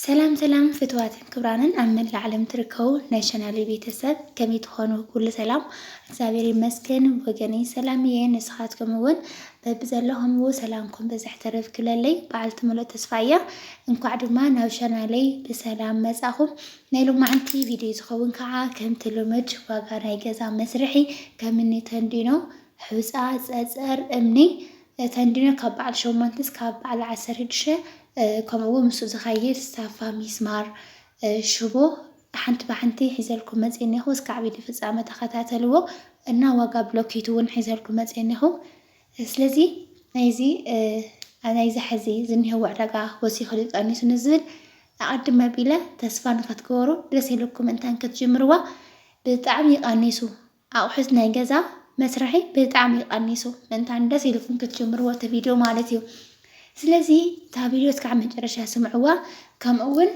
ሰላም ሰላም ፍትዋትን ክብራንን ኣብ መላእ ዓለም ትርከቡ ናይ ቻናለይ ቤተሰብ ከመይ ትኾኑ? ኩሉ ሰላም እግዚኣብሔር ይመስገን ወገነይ ሰላም እየ። ንስኻትኩም እውን በብዘለኹምዎ ሰላምኩም ብዝሕ ተረፍ ክብለለይ በዓልቲ ሙሉእ ተስፋ እያ። እንኳዕ ድማ ናብ ቻናለይ ብሰላም መጻኹም። ናይ ሎማዕንቲ ቪድዮ ዝኸውን ከዓ ከምቲ ልምድ ዋጋ ናይ ገዛ መስርሒ ከምኒ ተንዲኖ፣ ሑፃ፣ ፀፀር፣ እምኒ እተን ድማ ካብ በዓል ሸሞንተ እስካብ በዓል ዓሰርድሸ ከምኡ ውን ምስኡ ዝኸይድ ሳፋ ሚስማር ሽቦ ሓንቲ ብሓንቲ ሒዘልኩም መጽየ እኔኹ እስካዕ ቪድዮ ፍጻመ ተኸታተልዎ እና ዋጋ ብሎኬት ውን ሒዘልኩም መጽየ እኔኹ ስለዚ ናይዚ ናይዚ ሕዚ ዝኒሀዎ ዕዳጋ ወሲኹ ድዩ ቀኒሱ ንዝብል ኣቐድም ኣቢለ ተስፋ ንኸትገበሩ ደስ ኢልኩም እንታን ክትጅምርዋ ብጣዕሚ ይቐኒሱ ኣቁሑት ናይ ገዛ መስርሒ ብጣዕሚ ቀኒሱ እንታን ደስ ኢልኩም ክትጅምርዎ እቲ ቪድዮ ማለት እዩ ስለዚ እታ ቪድዮ እስካዕ መጨረሻ ስምዕዋ ከምኡ እውን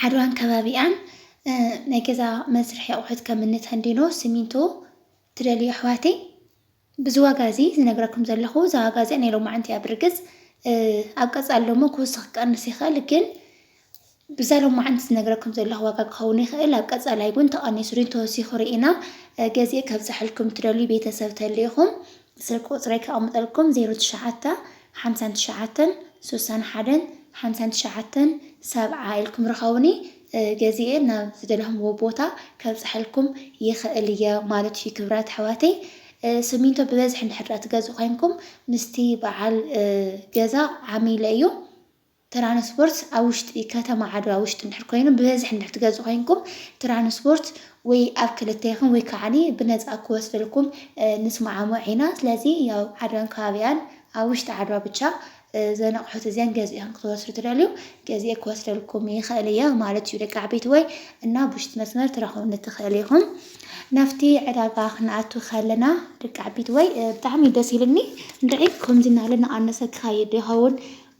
ዓድዋን ከባቢኣን ናይ ገዛ መስርሒ ኣቁሑት ከም እኒ ተንዲኖ ሲሚንቶ ትደልዩ ኣሕዋተይ ብዚ ዋጋ እዚ ዝነግረኩም ዘለኹ እዛ ዋጋ እዚኣ ናይ ሎማዕንቲ እያ ብርግጽ ኣብ ቀጻሊ ደሞ ክውስኽ ክቀንስ ይኽእል ግን ብዛ ሎማዕንቲ ዝነግረኩም ዘለኹ ዋጋ ክኸውን ይኽእል ኣብ ቀጻላይ ግን ተቐኒሱ ሪን ተወሲኹ ርኢና ገዜ ከብጽሐልኩም ትደልዩ ቤተሰብ ተልኢኹም ስልክ ቁጽረይ ከቐምጠልኩም 09 59 61 59 ሰብዓ ኢልኩም ርኸቡኒ ገዚኤ ናብ ዝደለኹምዎ ቦታ ከብፀሐልኩም ይኽእል እየ ማለት እዩ ክብራት ኣሕዋተይ ስሚንቶ ብበዝሒ እንድሕር ድኣ ትገዝኡ ኮይንኩም ምስቲ በዓል ገዛ ዓሚለ እዩ ትራንስፖርት ኣብ ውሽጢ ከተማ ዓድዋ ውሽጢ እንድሕር ኮይኑ ብበዝሒ እንድሕር ትገዝኡ ኮይንኩም ትራንስፖርት ወይ ኣብ ክልተ ይኹን ወይ ከዓኒ ብነፃ ክወስደልኩም ንስማዓሞዕ ኢና ስለዚ ያው ዓድዋን ከባቢኣን ኣብ ውሽጢ ዓድዋ ብቻ እዘን ኣቑሑት እዚኣን ገዚእኹም ክትወስዱ ትደልዩ ገዚኤ ክወስደልኩም ይኽእል እየ ማለት እዩ ደቂ ዓበይቲ ወይ እና ብውሽጢ መስመር ትረኽቡኒ ትኽእል ኢኹም። ናብቲ ዕዳጋ ክንኣቱ ከለና ደቂ ዓበይቲ ወይ ብጣዕሚ ደስ ኢልኒ እንድዒ ከምዚ እናበለ እናቐነሰ ክኸይድ ይኸውን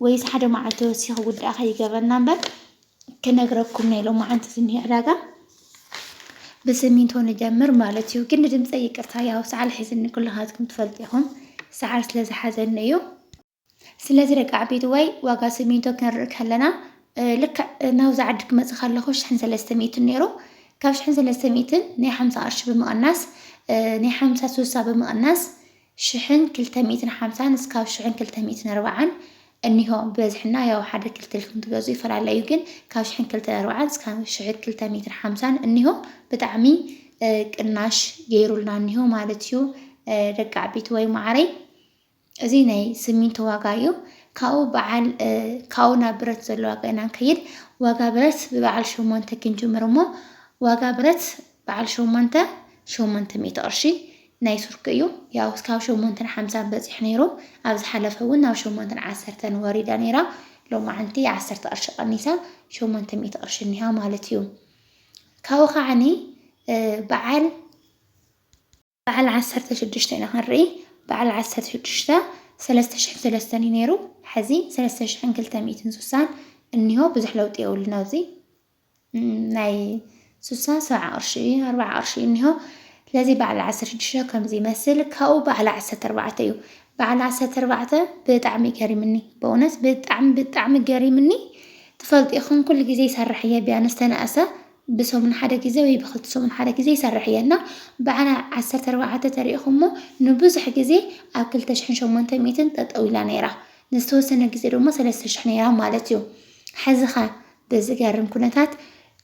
ወይስ ሓደ መዓልቲ ወሲኹ ውዳእ ከይገብረና እምበር ክነግረኩም ናይ ሎማዓንቲ ዝኒሀ ዕዳጋ ብስሚንቶ ንጀምር ማለት እዩ። ግን ንድምፀ ይቅርታ ያው ሰዓል ሒዝኒ ኩልኻትኩም ትፈልጡ ኢኹም ሰዓል ስለ ዝሓዘኒ እዩ። ስለዚ ደቂ ዓበይትዋይ ዋጋ ስሚንቶ ክንርኢ ከለና ልክዕ ናብዚ ዓዲ ክመፅእ ከለኹ ሽሕን ሰለስተ ሚእትን ነይሩ ካብ ሽሕን ሰለስተ ሚእትን ናይ ሓምሳ ቅርሺ ብምቕናስ ናይ ሓምሳ ስሳ ብምቕናስ ሽሕን ክልተ ሚእትን ሓምሳን እስካብ ሽሕን ክልተ ሚእትን ኣርባዓን እኒሆ ብበዝሕና ያው ሓደ ክልተ ኢልኩም ትገዝኡ ይፈላለ እዩ ግን ካብ ሽሕን ክልተ ኣርባዓን እስካብ ሽሕ ክልተ ሚእትን ሓምሳን እኒሆ ብጣዕሚ ቅናሽ ገይሩልና እኒሆ ማለት እዩ ደቂ ዓበይቲ ወይ ማዕረይ እዚ ናይ ስሚንቶ ዋጋ እዩ ካብኡ በዓል ካብኡ ናብ ብረት ዘሎ ዋጋ ኢና ንከይድ ዋጋ ብረት ብበዓል ሸሞንተ ክንጅምር እሞ ዋጋ ብረት በዓል ሸሞንተ ሸሞንተ ሚእቲ ቅርሺ ናይ ቱርኪ እዩ ያው ካብ ሸሞንተን ሓምሳን በጺሑ ነይሩ ኣብ ዝሓለፈ እውን ናብ ሸሞንተን ዓሰርተን ወሪዳ ነይራ ሎማዓንቲ ዓሰርተ ቅርሺ ቀኒሳ ሸሞንተ ሚእቲ ቅርሺ እኒሃ ማለት እዩ ካብኡ ከዓኒ በዓል በዓል ዓሰርተ ሽዱሽተ ኢና ክንርኢ በዓል ዓሰርተ ሽዱሽተ ሰለስተ ሽሕን ሰለስተን እዩ ነይሩ ሕዚ ሰለስተ ሽሕን ክልተ ሚእትን ሱሳን እኒሆ ብዙሕ ለውጢ የብሉን ኣብዚ ናይ ሱሳ ሰብዓ ቅርሺ እዩ ኣርባዓ ቅርሺ እዩ እኒሆ ስለዚ በዓል ዓሰርተ ሽዱሽተ ከምዚ ይመስል ካብኡ በዓል ዓሰርተ ኣርባዕተ እዩ በዓል ዓሰርተ ኣርባዕተ ብጣዕሚ ገሪምኒ በእውነት ብጣዕሚ ብጣዕሚ ገሪምኒ ትፈልጢ ኹን ኩሉ ግዜ ይሰርሕ እየ ቢያንስ ተነእሰ ብሰሙን ሓደ ግዜ ወይ ብክልተ ሰሙን ሓደ ግዜ ይሰርሕ እየ እና ብዓና ዓሰርተ ኣርባዕተ ተሪኢኩሞ ንብዙሕ ግዜ ኣብ ክልተ ሽሕን ሸሞንተ ሚእትን ጠጠው ኢላ ነይራ ንዝተወሰነ ግዜ ደሞ ሰለስተ ሽሕ ነይራ ማለት እዩ ሐዚኸ ብዝገርም ኩነታት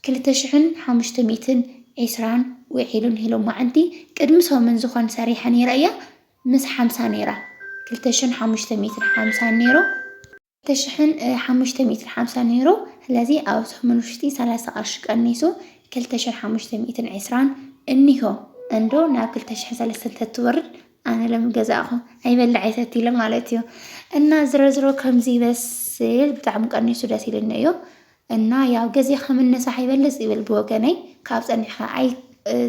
ክልተ ሽሕን ሓሙሽተ ሚእትን ዒስራን ውዒሉ ንሂሎማዓንቲ ቅድሚ ሰሙን ዝኾን ሰሪሐ ነይረ እየ ምስ ሓምሳ ነይራ ክልተ ሽሕን ሓሙሽተ ሚእትን ሓምሳን ነይሩ ተሽሕን ሓሙሽተ ሚእትን ሓምሳን ነይሩ ስለዚ ኣብ ሰሙን ውሽጢ ሰላሳ ቅርሺ ቀኒሱ ክልተ ሽሕን ሓሙሽተ ሚእትን ዕስራን እኒሆ እንዶ ናብ ክልተ ሽሕን ሰለስተን ተትወርድ ኣነ ለምገዛእኹ ኣይበልዕ ኣይሰቲ ኢለ ማለት እዩ እና ዝረዝሮ ከምዚ ይበስል ብጣዕሚ ቀኒሱ ደስ ኢልኒ እዩ እና ያው ገዜኻ ምነሳሕ ይበልፅ ይብል ብወገነይ ካብ ፀኒሕኻ ኣይ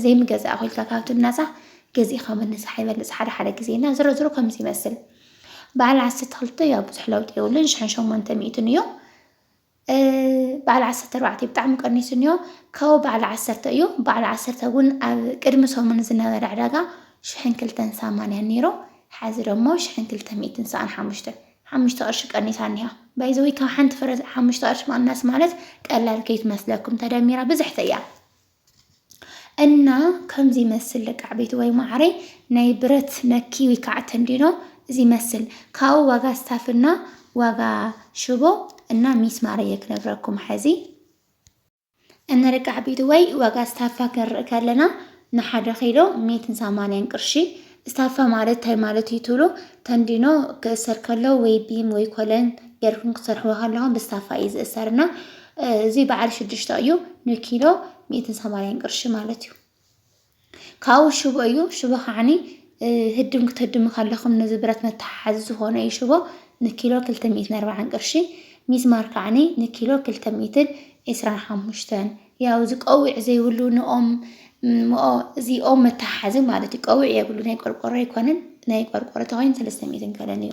ዘይምገዛእ ኮይልካ ካብ ትናሳሕ ገዜኻ ምነሳሕ ይበልፅ ሓደ ሓደ ግዜ እና ዝሮ ዝሮ ከምዚ ይመስል በዓል ዓሰርተ ክልተ ያው ብዙሕ ለውጢ የብሉን ሽሕን ሸሞንተ ሚእትን እዩ በዓል ዓሰርተ ኣርባዕተ ብጣዕሚ ቀኒሱ እኒኦ ካብኡ በዓል ዓሰርተ እዩ በዓል ዓሰርተ እውን ኣብ ቅድሚ ሰሙን ዝነበረ ዕዳጋ ሽሕን ክልተን ሰማንያን ነይሩ ሓዚ ደሞ ሽሕን ክልተ ሚእትን ሰኣን ሓሙሽተ ሓሙሽተ ቅርሺ ቀኒሳ እኒሃ ባይ ዘ ዌይ ካብ ሓንቲ ፍረ ሓሙሽተ ቅርሺ ምቕናስ ማለት ቀላል ከይትመስለኩም ተደሚራ ብዝሕቲ እያ እና ከምዚ ይመስል ደቂ ዓበይቲ ወይ ማዕረይ ናይ ብረት ነኪ ወይ ከዓ ተንዲኖ እዚ ይመስል ካብኡ ዋጋ ስታፍና ዋጋ ሽቦ እና ሚስማር እየ ክነግረኩም ሐዚ እንርቃሕ ቤት ወይ ዋጋ ስታፋ ክንርኢ ከለና ንሓደ ኪሎ ሚትን ሰማንያን ቅርሺ ስታፋ ማለት እንታይ ማለት እዩ ትብሉ? ተንዲኖ ክእሰር ከሎ ወይ ቢም ወይ ኮለን ጌርኩም ክትሰርሕዎ ከለኹም ብስታፋ እዩ ዝእሰር እና እዚ በዓል ሽዱሽተ እዩ ንኪሎ ሚትን ሰማንያን ቅርሺ ማለት እዩ። ካብኡ ሽቦ እዩ። ሽቦ ከዓኒ ህድም ክትህድሙ ከለኹም ነዚ ብረት መተሓሓዚ ዝኾነ እዩ ሽቦ ንኪሎ ክልተ ሚእትን ኣርባዓን ቅርሺ ሚስማር ከዓኒ ንኪሎ ክልተ ሚእትን ዒስራን ሓሙሽተን ያው እዚ ቀዊዕ ዘይብሉ ንኦም እዚ ኦም መተሓሓዚ ማለት እዩ። ቀዊዕ የብሉ ናይ ቆርቆሮ ኣይኮነን ናይ ቆርቆሮ ተኮይኑ ሰለስተ ሚእትን ገለን እዩ።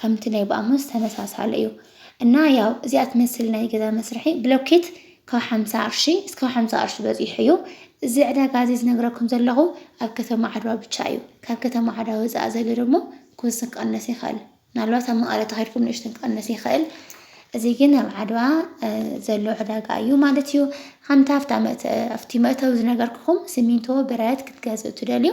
ከምቲ ናይ ብኣሙስ ተመሳሳሊ እዩ እና ያው እዚኣ ትመስል ናይ ገዛ መስርሒ ብሎኬት ካብ ሓምሳ ቅርሺ እስካብ ሓምሳ ቅርሺ በፂሑ እዩ እዚ ዕዳጋ እዚ ዝነግረኩም ዘለኹ ኣብ ከተማ ዓድዋ ብቻ እዩ ካብ ከተማ ዓድዋ ወፃእ ዘሎ ደግሞ ክውስን ክቐነስ ይኽእል ምናልባት ኣብ መቐለ ተኸድኩም ንእሽትን ክቐነስ ይኽእል እዚ ግን ኣብ ዓድዋ ዘሎ ዕዳጋ እዩ ማለት እዩ ከምቲ ኣብቲ መእተዊ ዝነገርኩኹም ሲሚንቶ ብረት ክትገዝኡ ትደልዩ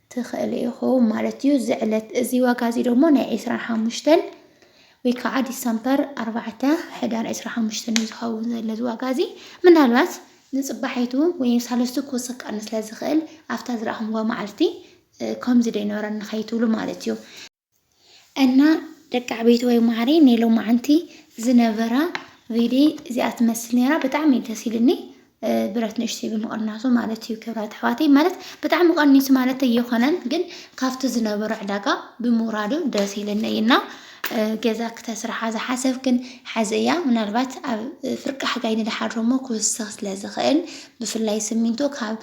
ትኽእሉ ኢኹም ማለት እዩ። እዚ ዕለት እዚ ዋጋ እዚ ደሞ ናይ ዕስራን ሓሙሽተን ወይ ከዓ ዲሰምበር ኣርባዕተ ሕዳር ዕስራን ሓሙሽተን እዩ ዝኸውን ዘሎ እዚ ዋጋ እዚ ምናልባት ንፅባሒቱ ወይም ሳለስቱ ክውስኽ ክቐንስ ስለ ዝኽእል ኣብታ ዝረኣኹምዋ መዓልቲ ከምዚ ደይነበረኒ ከይትብሉ ማለት እዩ። እና ደቂ ዓበይቲ ወይ ማዕረይ ናይ ሎማዓንቲ ዝነበራ ቪድዮ እዚኣ ትመስል ነይራ ብጣዕሚ እዩ ደስ ኢሉኒ ብረት ንእሽተይ ብምቕናሱ ማለት እዩ ክብራት ኣሕዋተይ ማለት ብጣዕሚ ቀኒሱ ማለት እየኾነን ግን ካብቲ ዝነበሮ ዕዳጋ ብምውራዱ ደስ ኢለኒ እዩና ገዛ ክተስርሓ ዝሓሰብክን ሓዚ እያ ምናልባት ኣብ ፍርቂ ሓጋይ ንድሓር እሞ ክውስኽ ስለ ዝኽእል ብፍላይ ስሚንቶ ካብ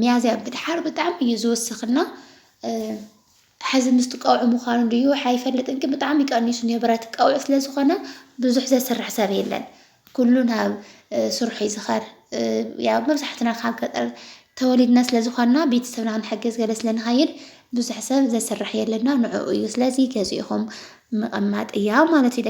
ሚያዝያ ብድሓር ብጣዕሚ እዩ ዝውስኽና ሐዚ ምስቲ ቀውዒ ምዃኑ ድዩ ሓይፈልጥን ግን ብጣዕሚ ቀኒሱ ንብረት ቀውዒ ስለ ዝኾነ ብዙሕ ዘስርሕ ሰብ የለን ኩሉ ናብ ስርሑ እዩ ዝኸር ያው መብዛሕትና ካብ ገጠር ተወሊድና ስለ ዝኾንና ቤተሰብና ክንሕግዝ ገለ ስለ ንኸይድ ብዙሕ ሰብ ዘስርሕ የለና ንዕኡ እዩ ስለዚ ገዚእኹም ምቕማጥ እያ ማለት እዩ።